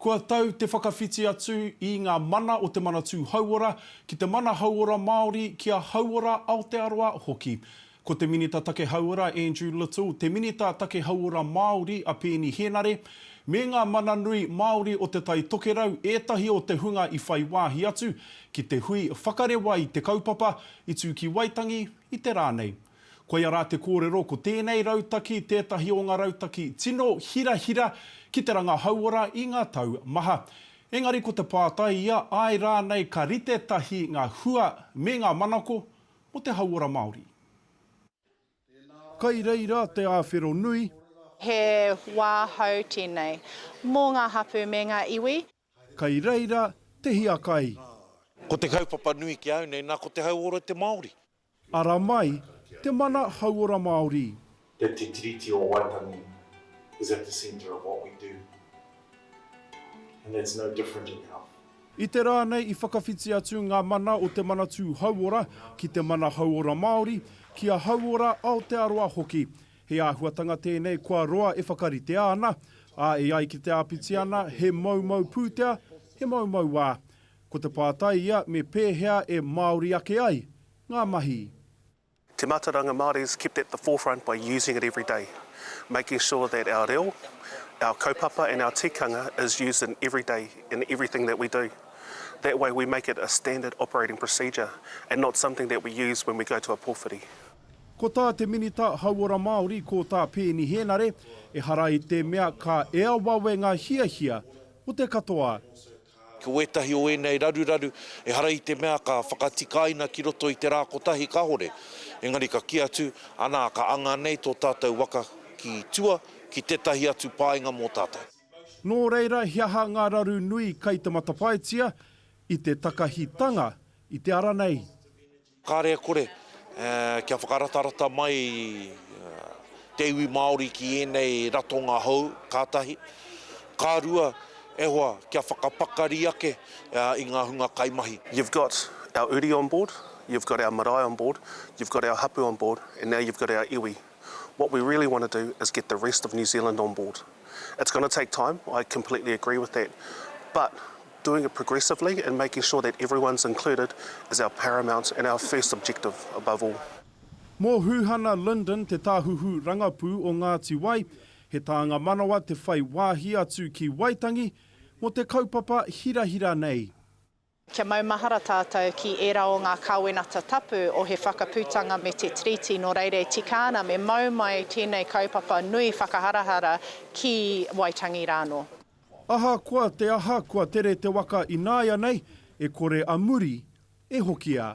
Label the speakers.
Speaker 1: Kua tau te whakawhiti atu i ngā mana o te Manatū Hauora ki te mana hauora Māori, ki a Hauora Aotearoa hoki. Ko te Minita Take Hauora Andrew Little, te Minita Take Hauora Māori a Peeni Henare, me ngā mana nui Māori o Te Tai Tokerau ētahi o te hunga i whai wāhi atu ki te hui whakarewa i te kaupapa i tū ki Waitangi i te rā nei. Koia rā te kōrero, ko tēnei rautaki tētahi o ngā rautaki tino hirahira ki te ranga hauora i ngā tau maha. Engari ko te pātai ia, āe rānei ka rite tahi ngā hua me ngā manako mō te hauora Māori? Kai reira te āwhero nui. He
Speaker 2: wā hou tēnei mō ngā hapū me ngā iwi. Kei reira
Speaker 1: te hiakai. Ko te
Speaker 3: kaupapa nui ki a au nei, na ko te hauora te Maori. Ara mai
Speaker 1: te mana hauora Maori. That Te Tiriti
Speaker 4: o Waitangi is at the centre of what we do and that's no different in health. I te rā nei
Speaker 1: i whakawhiti atu ngā mana o te Manatū Hauora ki te mana hauora Māori, ki a Hauora Aotearoa hoki. He āhuatanga tēnei kua roa e whakaritea ana, ā, e ai ki te āpiti ana, he moumou pūtea, he moumou wā. Ko te pātai ia me pēhea e Māori ake ai ngā mahi. Te
Speaker 5: Mātauranga Māori is kept at the forefront by using it every day, making sure that our reo, our kaupapa and our tikanga is used in every day in everything that we do. That way we make it a standard operating procedure and not something that we use when we go to a pōwhiri. Ko tā
Speaker 1: te Minita Hauora Māori, ko tā Peeni Hēnare, ehara i te mea ka ea wawe ngā hiahia o te katoa. Ko
Speaker 3: ētahi o ēnei raruraru, ehara i te mea ka whakatikaina ki roto i te rā kotahi kāore, engari ka kī atu, anā, ka anga nei tō tātou waka ki tua, ki tētahi atu painga mō tātou. Nō reira,
Speaker 1: he aha ngā raru nui kei te matapaetia i te takahitanga i te ara nei? Kāre e
Speaker 3: kore, kia whakaratarata mai te iwi Māori ki ēnei ratonga hou, ka tahi. Ka rua, e hoa, kia whakapakari ake i ngā hunga kaimahi. You've got
Speaker 5: our uri on board, you've got our marae on board, you've got our hapu on board and now you've got our iwi. What we really want to do is get the rest of New Zealand on board. It's going to take time, I completely agree with that, but Doing it progressively and making sure that everyone's included is our paramount and our first objective above all. Mō Huhana
Speaker 1: Lyndon, te Tāhuhu Rangapū o Ngāti Wai, he tānga manawa te whai wāhi atu ki Waitangi mō te kaupapa hirahira nei. Kia
Speaker 2: maumahara tātou ki ērā o ngā Kāwenata Tapu o He Whakaputanga me te Tiriti, nō reira e tika ana me mau mai tēnei kaupapa nui whakaharahara ki Waitangi rānō. Ahakoa
Speaker 1: te aha kua tere te waka ināianei, e kore a muri e hoki a.